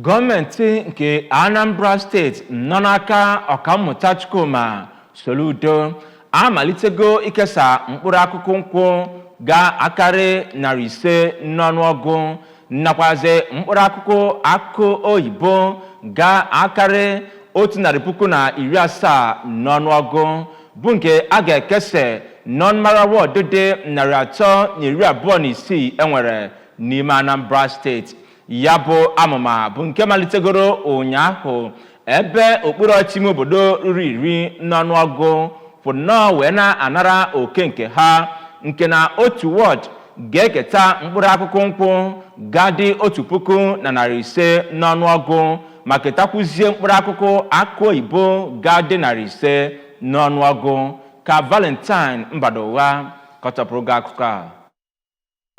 gọọmenti nke anambra steeti nọ n'aka ọkammụta chukwuma soludo amalitego ikesa mkpụrụ akụkụ nkwụ ga-akarị narị ise n'ọnụọgụ nakwazi mkpụrụ akụkụ akụ oyibo ga-akarị otu narị puku na iri asaa n'ọnụọgụ bụ nke a ga-ekesa n'ọnụmara wọdụ dị narị atọ na iri abụọ na isii enwere n'ime anambra steeti ya bụ amụma bụ nke malitegoro ụnyaahụ ebe okpuru ọchịchị ime obodo ruru iri n'ọnụọgụ kwụ nnọọ wee na-anara oke nke ha nke na otu wọd ga-eketa mkpụrụ akụkụ nkwụ ga-adị otu puku na narị ise n'ọnụọgụ ma ketakwuzie mkpụrụ akụkụ akụ oyibo ga-adị narị ise n'ọnụọgụ ka valentine mbadugha kọtọpụrụ gị akụkọ a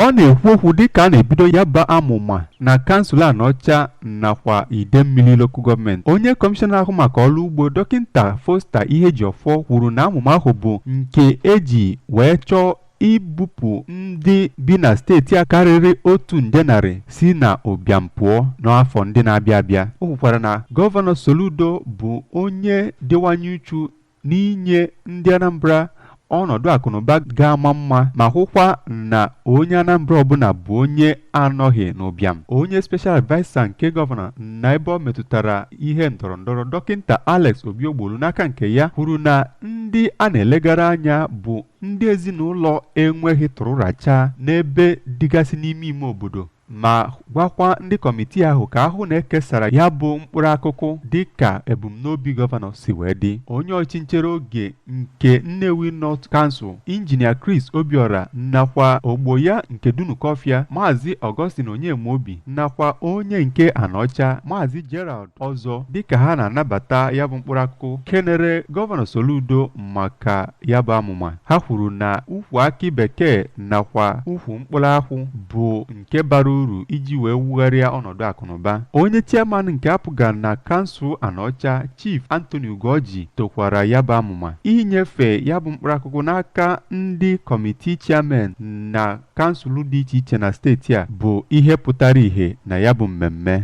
ọ na-ekwu okwu dịka a na-ebido ya bụ amụma na kansụl Anaọcha nakwa Idemmili lokal gọọmenti onye kọmishọna na-ahụ maka ọrụ ugbo dọkịta Foster Ihejiọfọ kwuru na amụma ahụ bụ nke eji wee chọọ ibupụ ndị bi na steeti a karịrị otu nde narị si na ụbịam pụọ n'afọ ndị na-abịa abịa o kwukwara na gọvanọ Soludo bụ onye dịwanye uchu n'inye ndị Anambra ọnọdụ akụnụba ga-ama mma ma hụkwa na onye Anambra ọbụla bụ onye anọghị n'ụbịam onye special adviser nke gọvanọ na ebe ọ metụtara ihe ndọrọ ndọrọ dọkịta Alex Obiogbolu n'aka nke ya kwuru na ndị a na-elegara anya bụ ndị ezinụlọ enweghị tụrụ rachaa n'ebe dịgasị n'ime ime obodo ma gwakwa ndị kọmitii ahụ ka a hụ na ekesara ya bụ mkpụrụ akụkụ dị ka ebumnobi gọvanọ si wee dị onye ọchịchị nchere oge nke Nnewi North Council injinia Chris Obiora nakwa ogbo ya nke Dunukọfịa maazị Augustine Onyemaobi nakwa onye nke Anaọcha maazị Gerald Ọzọ dịka ha na-anabata ya bụ mkpụrụ akụkụ kenere gọvanọ Soludo maka ya bụ amụma ha kwuru na ukwu akị bekee nakwa ukwu mkpụrụ akwụ bụ nke bara uru iji wee wugharịa ọnọdụ akụnụba onye chairman nke APGA na kansụl Anaọcha Chief Anthony Ugorji tokwara ya bụ amụma inyefe ya bụ mkpụrụ akụkụ n'aka ndị kọmitii chairman na kansụl dị iche iche na steeti a bụ ihe pụtara ihe na ya bụ mmemme